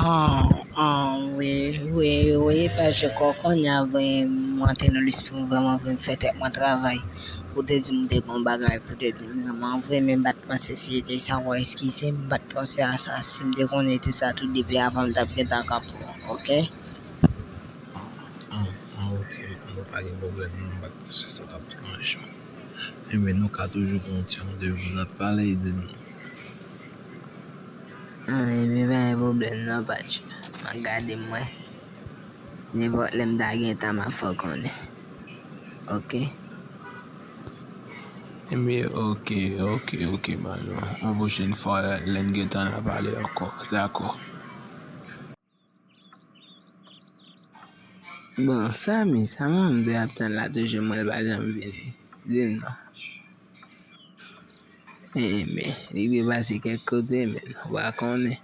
Aww aww wi wi wi pa je kò konnya vre mwen te nan lespri m vrèman vre m fè tèt mwen travay pou te di m de bon bagay pou te di m vrèman vre men m pat panse si e te sa w eskize m m pat panse a sa si m te konnen e te sa tou depi avan m tap gentan kanpe w ok. Aww aww ok bon pa gen pwoblèm non m pat panse sa tap deranj w enben nou ka toujou gen yon ti randevou n ap pale e di m. Epi pa gen pwoblèm non Patch, m ap gade mwen. Nenpòt lè m ta gen tan m ap fè w konnen. Ok. Epi ok, ok, ok Manno. Yon pwochen fwa lè n gen tan n a pale ankò. Dakò. Bon Samy sa moun te ap tann la toujou mwen pa janm vini dim non ee men li te pase kèk kote men ou pa konnen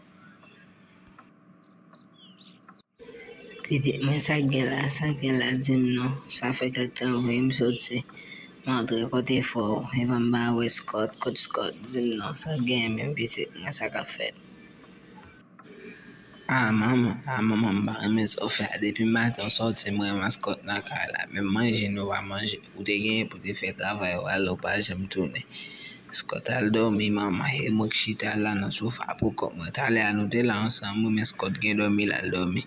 pitit mwen sa gen la sa gen la dim non sa fè kèk tan ou vin m soti m antre kote fò ou epa m pa wè Scott kot Scott dim non sa gen men pitit mwen sa kap fèt. Ah manman ah manman m pa renmen sa ou fè a depi maten ou sòti m wè maskòt nan kay la menm manje nou pa manje ou te genyen pou te fè travay ou ale ou pa janm tounen maskòt al dòmi manman e mwen k chita la nan sofa pou kòm mwen talè a nou te la ansanm wi maskòt gen dòmi l al dòmi.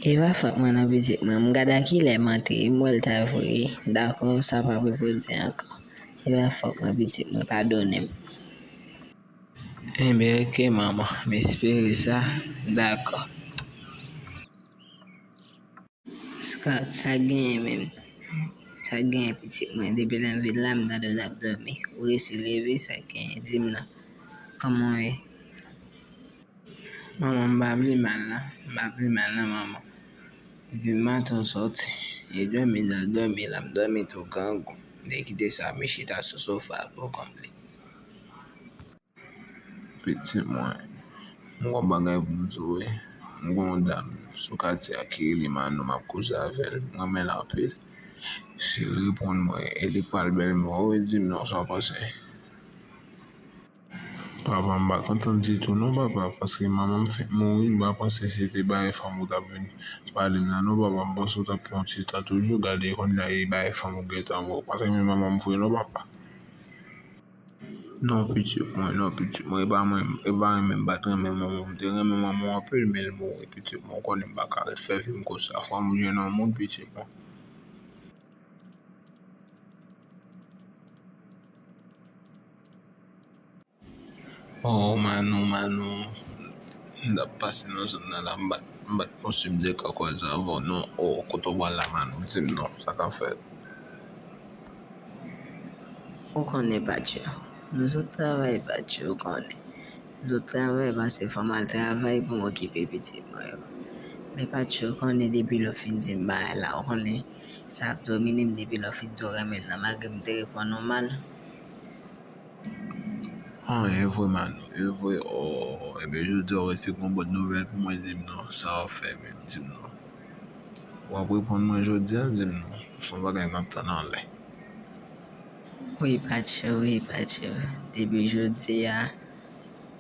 Epa fòt mwen nan pitit mwen m gad a kilè m antre m wè l ta vre dakò sa pa pou pou di ankò epa fòt mwen pitit mwen padone m. Enben ok manman, m espere sa, dakò. Scott, sak genyen menm? Sak genyen pitit mwen, depi lè m vin la m tande w t ap dòmi, ou resi leve sak genyen di m nan, kòman w ye? Manman m pa pi mal nan, m pa pi mal nan manman, depi maten ou sòti, e dòmi m t al dòmi la m dòmi tou grangou, m te kite sa m chita sou sofa a poukont li. Piti mwen, m gen yon bagay pou m di w wi. M gen yon dam sou katye a ki rele Manou m ap koze avè l. M renmen l anpil. Si l reponn mwen e li pa l bèlmè w, ou di m non sa w panse. Papa m pa kontan ditou non papa paske manman m fenk mouri. M pa panse se te bagay fanm ou t ap vin pale m lan non papa. M panse w t ap pran yon ti tan toujou. Gade kounya e bagay fanm ou gentan vwe. Ou pa t renmen manman m vre non papa. Non pitit mwen, non pitit mwen, epa mwen, epa mwen menm bat mwen menm mwen mwen te mwen menm mwen mwen apèl menl mwen mwen pitit mwen mwen konnen baka re fè vim kou sa fò mwen jwenn yon moun pitit mwen. Oh manou manou m tap pase nan zòn nan la m bat m bat yon sèm de kakòz avèw non oh kote ou pral la manou dim non sa ka fèt. Ou konnen Patcho. Nou sot travay Patcho ou konnen. Nou sot travay pase fò m al travay pou m okipe pitit mwen yo. Men Patcho ou konnen depi lè ou fin di m bagay la ou konnen sa ap domine m depi lè ou fin di ou renmen m nan malgre m te reponn ou mal. An evre Manou, evre oo. Ebyen jodi a ou resi gon bòn nouvèl pou mwen di m non. Sa ou fè menm di m non. Wap reponn mwen jodia dim non. Son bagay map tann anlè. Wi patche wi patche depi jodia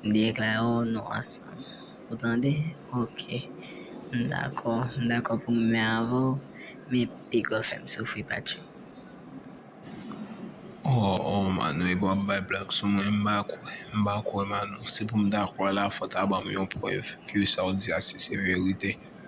m deklare w nou ansanm ou tande ok m dakò m dakò pou m renmen avè w men piga w fè m soufri patche. Ohh ohh Manou epi wap bay blag sou mwen m pa kwè m pa kwè Manou si pou m ta kwè la fò ta banm yon prèv ke sa w di a si se verite.